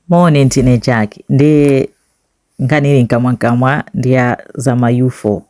Moni ndine Jack ndiye nkhani ili mkamwamkamwa ndi ya za ma UFO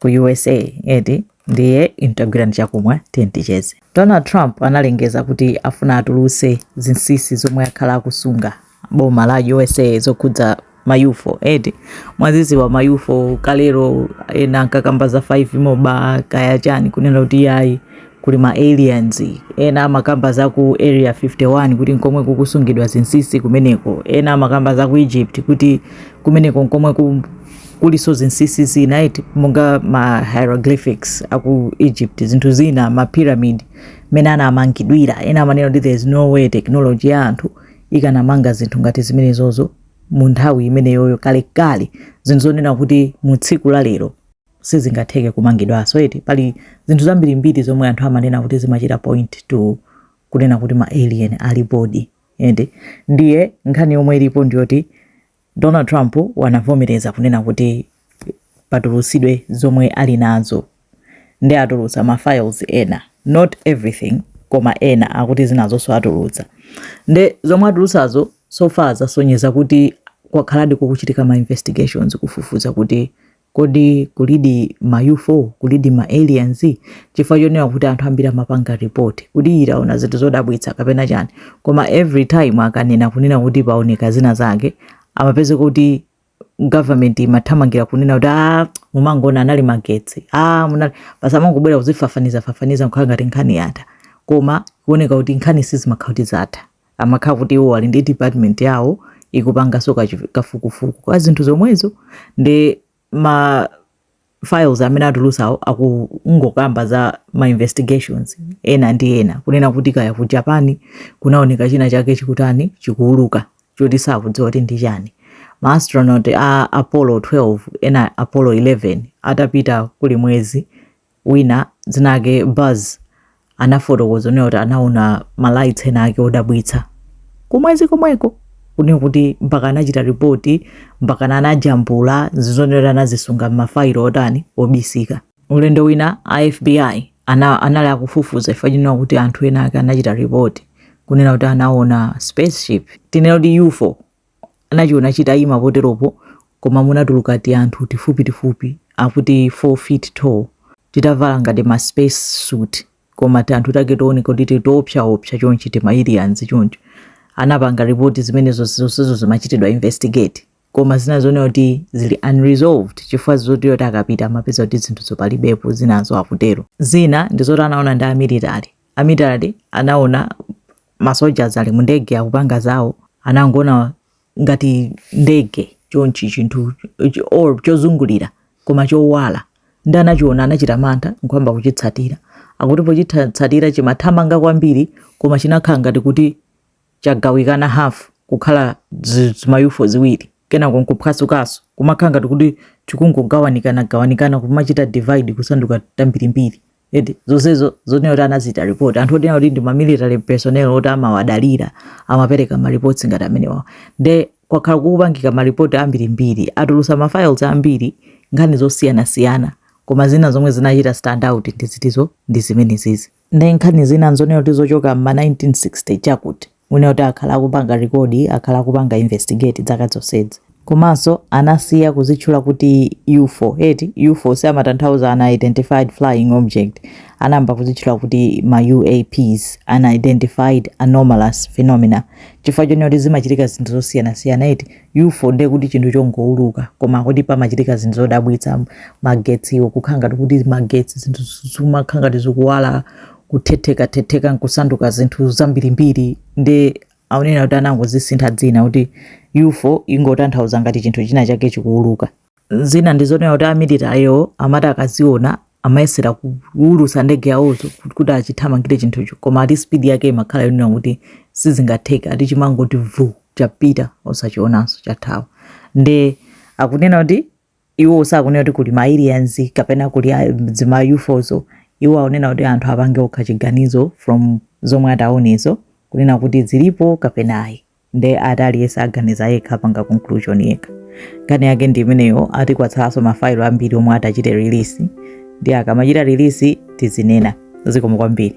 ku USA eti ndiye intagwira ndi chakumwa tiye ticheze. Donald Trump analengeza kuti afuna atulutse zinsisi zomwe akhala akusunga boma la USA zokhudza ma UFO eti mwaziziwa ma UFO kalero ena ankakamba za 5 moba kaya chani kunena kuti yayi kuli ma aliens, ena amakamba za ku area 51 kuti nkomwe kukusungidwa zinsisi kumeneko, ena amakamba za ku Egypt kuti kumeneko nkomwe ku kulinso zinsisi zina eti monga ma hieroglyphics aku Egypt zinthu zina ma pyramid mmene anamangidwira ena amanena kuti there's no way technology ya anthu ikanamanga zinthu ngati zimenezozo mu nthawi imeneyoyo kalekale zinzonena kuti mu tsiku la lero sizingatheke kumangidwanso eti pali zinthu zambirimbiri zomwe anthu amanena kuti zimachita point to kunena kuti ma alien alipodi eti ndiye nkhani yomwe ilipo ndiyoti donald trump wanavomereza kunena kuti patulusidwe zomwe ali nazo ndi atulutsa ma files ena not everything koma ena akuti zinazonso atulutsa nde zomwe atulutsazo so far zasonyeza kuti kwakhaladi kukuchitika ma investigations kufufuza kuti Kodi kulidi ma ufo? Kulidi ma aliens? Chifukwa chonena kuti anthu ambiri amapanga report kuti ii taona zinthu zodabwitsa kapena chani. Koma every time akanena kunena kuti paoneka zina zake, amapezeka kuti government imathamangira kunena kuti aa mumangoona anali magetsi, aa munali basi amangobwera kuzifafanizafafaniza kukhala ngati nkhani yatha. Koma kuoneka kuti nkhani sizimakhala kuti zatha. amakhala kuti iwo ali ndi department yawo ikupanganso kafukufuku kwa zinthu zomwezo ndi ma files amene atulusawo akungokamba za ma investigations ena ndi ena kunena kuti kaya ku japan kunaoneka china chake chikutani chikuuluka choti sakudziwa kuti ndi chani ma astronaut a apollo 12 ena apollo 11 atapita ku mwezi wina dzina lake Buzz anafotokoza kunena kuti anaona ma lights ena ake odabwitsa kumwezi komweko kunena kuti mpaka anachita ripoti mpaka anajambula zizonena kuti anazisunga m'mafailo otani obisika ulendo wina a FBI ana, anali akufufuza chifukwa chonena kuti anthu ena ake anachita ripoti kunena kuti anaona spaceship tinene kuti UFO anachiona chitayima poteropo koma munatuluka tianthu tifupitifupi akuti 4 feet tall titavala ngati ma space suit koma tianthu take tooneka kuti tili toopsaopsa chonchi tima aliens choncho anapanga report zimenezo zonsezo zimachitidwa investigate koma zinazo akunena kuti zili unresolved chifukwa choti akapita amapeza kuti zinthuzo palibepo zinazo akutero zina ndi zoti anaona ndi a military Amilitary anaona ma soldiers ali mu ndege akupanga zawo, anangoona ngati ndege chonchi chinthu ch- or chozungulira koma chowala nde anachiona anachita mantha nkuyamba kuchitsatira akuti pochitsatira chimathamanga kwambiri koma chinakhala ngati kuti chagawikana hafu kukhala zi- zimayufo ziwiri kenako nkuphwasukanso kumakhala ngati kuti chikungogawanikana gawanikana kumachita divide kusanduka tambirimbiri eti zonsezo zonena kuti anazita report anthu onena kuti ndi ma military personnel oti amawadalira amapereka ma reports ngati amenewa nde kwakhala kukupangika ma report ambirimbiri atulusa ma files ambiri nkhani zosiyanasiyana koma zina zomwe zinachita stand out ndi zitizo ndi zimenezizi Nde nkhani zina nzonena kuti zochoka mma 1960 chakuti kunena kuti akhala akupanga record akhala akupanga investigate zaka zonsezi. Komanso anasiya kuzitchula kuti ufo eti ufo siamatanthauza unidentified flying object anayamba kuzitchula kuti ma UAPs unidentified anomalous phenomena chifukwa chonena kuti zimachitika zinthu zosiyanasiyana eti. Ufo ndiye kuti chinthu chongouluka, koma kuti pamachitika zinthu zodabwitsa magetsiwo kukhala ngati kuti magetsi zinthu zimakhala ngati zikuwala kuthethekathetheka nkusanduka zinthu zambirimbiri nde akunena kuti anangozisintha dzina kuti ufo ingotanthauza ngati chinthu china chake chikuuluka zina ndizonena kuti amilitaryo amati akaziona amayesera kuwulusa ndege yawozo kuti achithamangire chinthucho koma ati speed yake imakhala yonena kuti sizingatheke ati chimangoti vu chapita osachionanso chathawa nde akunena kuti iwo sakunena kuti kuli maaliens kapena kuli zima ufozo iwo akunena kuti anthu apange okha chiganizo from zomwe ataonezo kunena kuti zilipo kapena ayi nde ati aliyese aganiza yekha apanga conclusion yekha nkhani yake ndi imeneyo ati kwatsalaso mafailo ambiri omwe atachite release nde akamachita release tizinena zikomo kwambiri